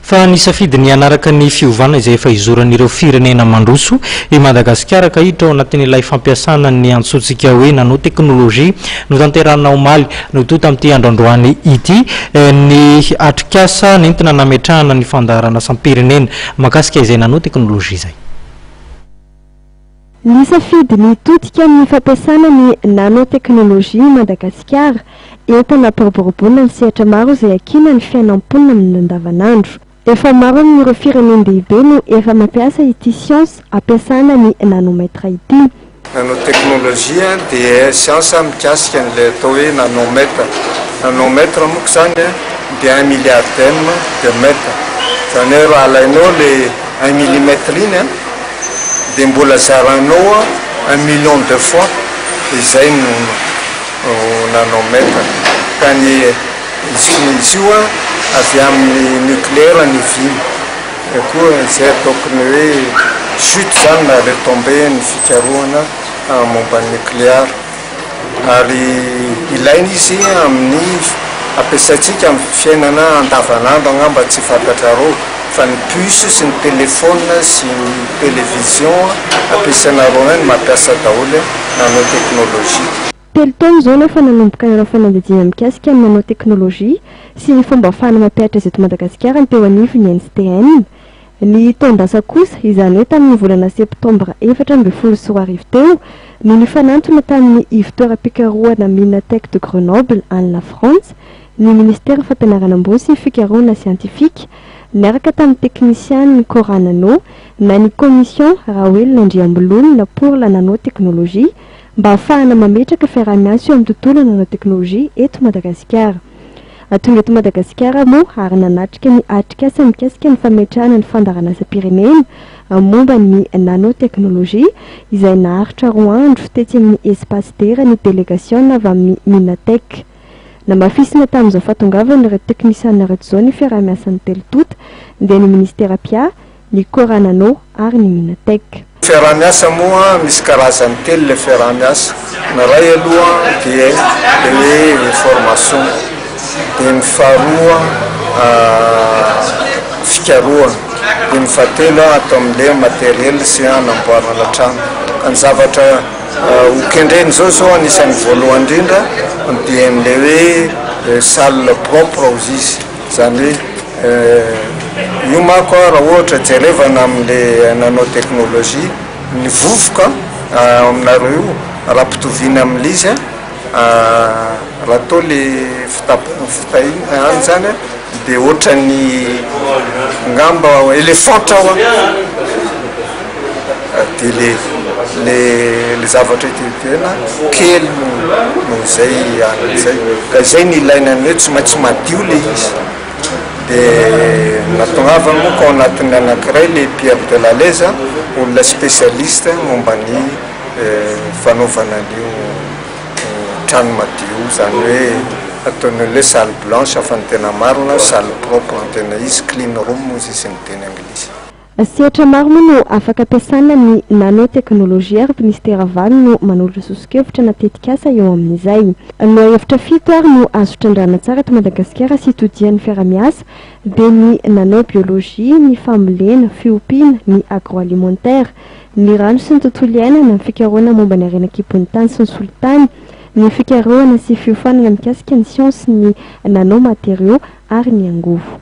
Fa nisafidy ny hanaraka ny fiovana izay efa izoran'ireo firenena mandroso i Madagasikara ka hiditra ao anatin'ilay fampiasana ny antsointsika hoe nanotechnologie notanterahina omaly no toa tamin'ity andro androany ity ny atrikasa nentina nametrahana ny fandaharanasam-pirenena mahakasika izay nanotechnologie izay. Nisafidy ny hitodika amin'ny fampiasana ny nanotechnologie i Madagasikara. Entana hampiroboroboana ny sehatra maro izay hakiana ny fiainan'ny mponina amin'ny andavanandro. Efa maro amin'ireo firenen-dehibe no efa mampiasa ity siansa hampiasana ny nanomètre ity. Nanotechnologie dia siansa mikasika an'ilay atao hoe nanomètre. Nanomètre monko izany dia un milliardième de mètre. Izany hoe raha alainao ilay un millimètre iny, dia mbola zaranao un million de fois izay no nanao maître ka ny izy koa izy io avy aminy nucléaire ny viny koa izay ataoko ny hoe chute zany na retombée ny fikarohana momba ny nucléar ary ilaina izy amin'ny ampiasaintsika amin'ny fiainana andavan'andro angamba tsy fantatrareo fa ny puce sy ny telephone sy ny television ampiasainareo any no mampiasa daholo nanao technologie. Telo taona izao nefa nanomboka nanao fanadihadiana mikasika ny nanao technologie sy ny fomba ahafahana mampihatra ezo eto Madagasikara ny teo anivon'ny NCTM, Ny taon-dasa kosa, izany hoe tamin'ny volana septambra efatra ambin'ny folo sy roa arivo teo, no nifanantona tamin'ny ivon-toeram-pikarohana Minatech de Grenoble, any Lafrantsa, ny Minisitera Fampianarana Ambony sy Fikarohana Siantifika, niaraka tamin'ny teknisianin'ny Cora Nano na ny Commission Raoelina Andriambololona pour la Nanotechnologie, mba hahafahana mametraka fiaraha-miasa eo amin'ny tontolo nanotechnologie eto Madagasikara. Raha tonga eto Madagasikara moa ary nanatrika ny atrikasa mikasika ny fametrahana ny fandaharanasam-pirenena momba ny nanotechnologie izay naharitra roa andro tetsy amin'ny Espace Dera ny delegasiona avy amin'ny Minatech. Namafisina tamin'izao fahatongavany ireo teknisiana ireo izao ny fiaraha-miasan'ny telo tonta dia ny Ministera mpia, ny Cora Nano ary ny Minatech. Fiaraha-miasa moa misy karazany telo ilay fiaraha-miasa, ny iray aloha dia ilay hoe information, dia ny faharoa fikarohana, dia ny fahatelo ato amin'ilay matériel sy hanamboarana trano, ka ny zavatra hokendrena izao zao anisan'ny voalohany indrindra dia ny ilay hoe salle propre hozy izy. Izany hoe io manko raha ohatra jerevana amin'le nano technologie, ny vovoka ao aminareo io raha ampitoviana amin'le izy raha toa le fitahina any izany dia ohatran'ny ngamba elefantra ao an! dia le le le zavatra ety ivelany kely no no izay an'ny izay ka izay ny ilaina ny hoe tsy maintsy madio le izy dia natongavany moa ka ao anatin'ny anankiray le Pierre de la Leza olona spécialiste momba ny fanaovana an'io trano madio izany hoe ataon'ny olona hoe salle blanche fa ny tena marina salle propre no tena izy clean room hozy izy ny teny anglisy Sehatra maro moa no afaka ampiasana ny nanoteknolojia ary Minisitera valo no manolotra soso-kevitra na tetikasa eo amin'izay. Lohahevitra fito ary no azo trandrahana tsara eto Madagasikara sy todian'ny fiarahamiasa dia ny nanobiolojia, ny fambolena, fiompiana, ny agroalimentaire, ny rano sy ny tontolo iainana, ny fikarohana momba ny harena an-kibon'ny tany sy ny solitany, ny fikarohana sy fiofanana mikasika ny siansin'ny nanomateriaux ary ny angovo.